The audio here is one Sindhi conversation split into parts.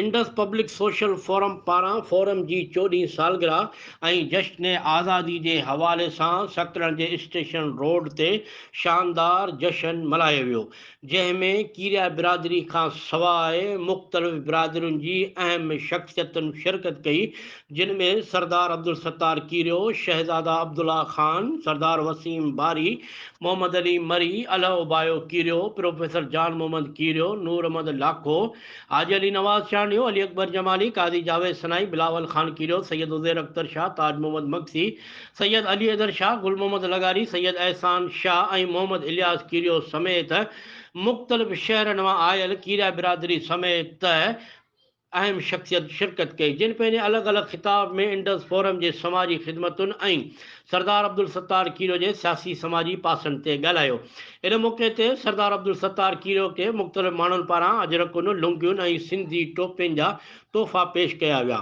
انڊس پبلڪ سوشل فورم پاران فورم جي چوڏهين سالگرهه ۽ جشن آزادي جي حوالي سان سڪرنڊ جي اسٽيشن روڊ تي شاندار جشن ملهايو ويو جنهن ۾ ڪيريا برادري کان سواء مختلف برادرين جي اهم شخصيتن شرڪت ڪئي جن ۾ سردار عبدالستار ڪيريو، شهزاده عبدالله خان، سردار وسيم باري، محمد علي مري، الهه اوبايو ڪيريو، پروفيسر جان محمد ڪيريو، نور احمد لاکو، حاجي علي نواز چانڊيو، علي اڪبر جمالي، قاضي جاويد سنائي، بلاول خان ڪيريو، سيد عزير اختر شاهه، تاج محمد مگسي، سيد علي حيدر شاهه، گل محمد لغاري، سيد احسان شاهه ۽ محمد الياس ڪيريو سميت مختلف شهرن مان آيل ڪيريا برادري سميت اهم شخصيت شرڪت ڪئي جن پنهنجي الڳ الڳ خطاب ۾ انڊس فورم جي سماجي خدمتن ۽ سردار عبدالستار کيرو جي سياسي سماجي پاسن تي ڳالهايو ان موقعي تي سردار عبدالستار کيرو کي مختلف ماڻهن پاران اجرڪون لنگيون ۽ سنڌي ٽوپين جا تحفا پيش ڪيا ويا.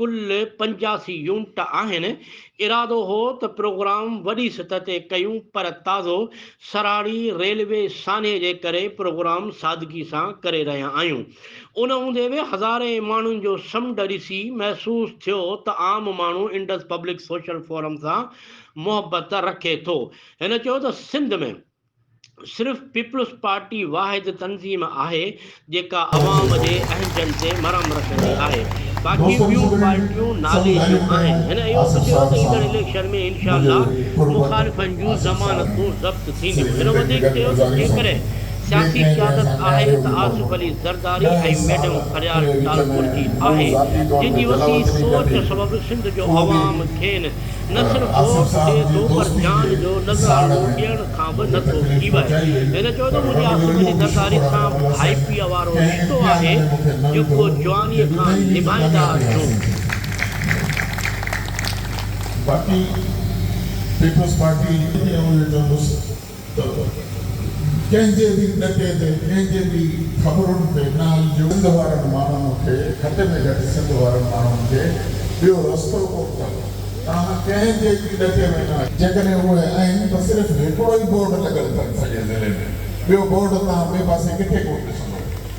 ڪل پنجاسي يونٽ آهن، ارادو هو ته پروگرام وڏي سطح تي ڪيون پر تازو سراڙي ريلوي سانحي جي ڪري پروگرام سادگي سان ڪري رهيا آهيون، ان هوندي به هزارين ماڻهن جو سمنڊ ڏسي محسوس ٿيو ته عام ماڻهو انڊس پبلڪ سوشل فورم سان محبت رکي ٿو، هن چيو ته سنڌ ۾. صرف پيپلز پارٽي واحد تنظيم آهي جيڪا عوام جي اهنجن تي مرهم رکندي آهي باقي ٻيون پارٽيون نالي جون آهن. هن اهو به چيو ته ايندڙ اليڪشن ۾ انشاء الله مخالفن جون ضمانتون ضبط ٿينديون. هن وڌيڪ چيو ته جيڪڏهن سياسي قيادت آهي ته آصف علي زرداري ۽ ميڊم فريال ٽالپر جي آهي جن جي وسيع سوچ سبب سنڌ جو عوام کين نسل دوست جي تو پر جان جو نذرانو ڏيڻ کان به نه ٿو ڪيوائي. هن چيو ته منهنجي آصف جي نظاري سان ڀائپيء وارو رشتو آهي، جيڪو جوانيء کان نڀائيندا اچون. ته ڪنهن جي به ڏٽي تي، ڪنهن جي به خبرن تي نه هلجو. سنڌ وارن ماڻهن کي گهٽ ۾ گهٽ سنڌ وارن ماڻهن کي ٻيو رستو ڪو به ڪانهي. توهان ڪنهن جي به ڏٽي ۾ نه اچو. جيڪڏهن اهي آهن ته صرف هڪڙو ئي بورڊ لڳل اٿن سڄي ضلعي ۾. ٻيو بورڊ توهان ٻئي پاسي ڪٿي ڪونه ڏسندو.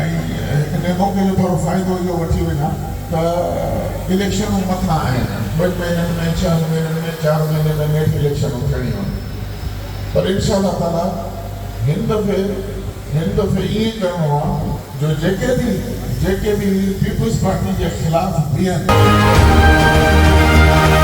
۽ هڪ نئين موقعي جو ٿورو فائدو اهو وٺي وڃان ته اليڪشنون مٿان آهن، ٻن مهينن ۾، ڇهن مهينن ۾، چار مهيني ۾ نيٺ اليڪشنون ٿيڻيون آهن پر انشاء الله تعاليٰ هن دفعي هن دفعي ائين ڪرڻو آهي جو جيڪي به جيڪي به پيپلز پارٽي جي خلاف بيهن.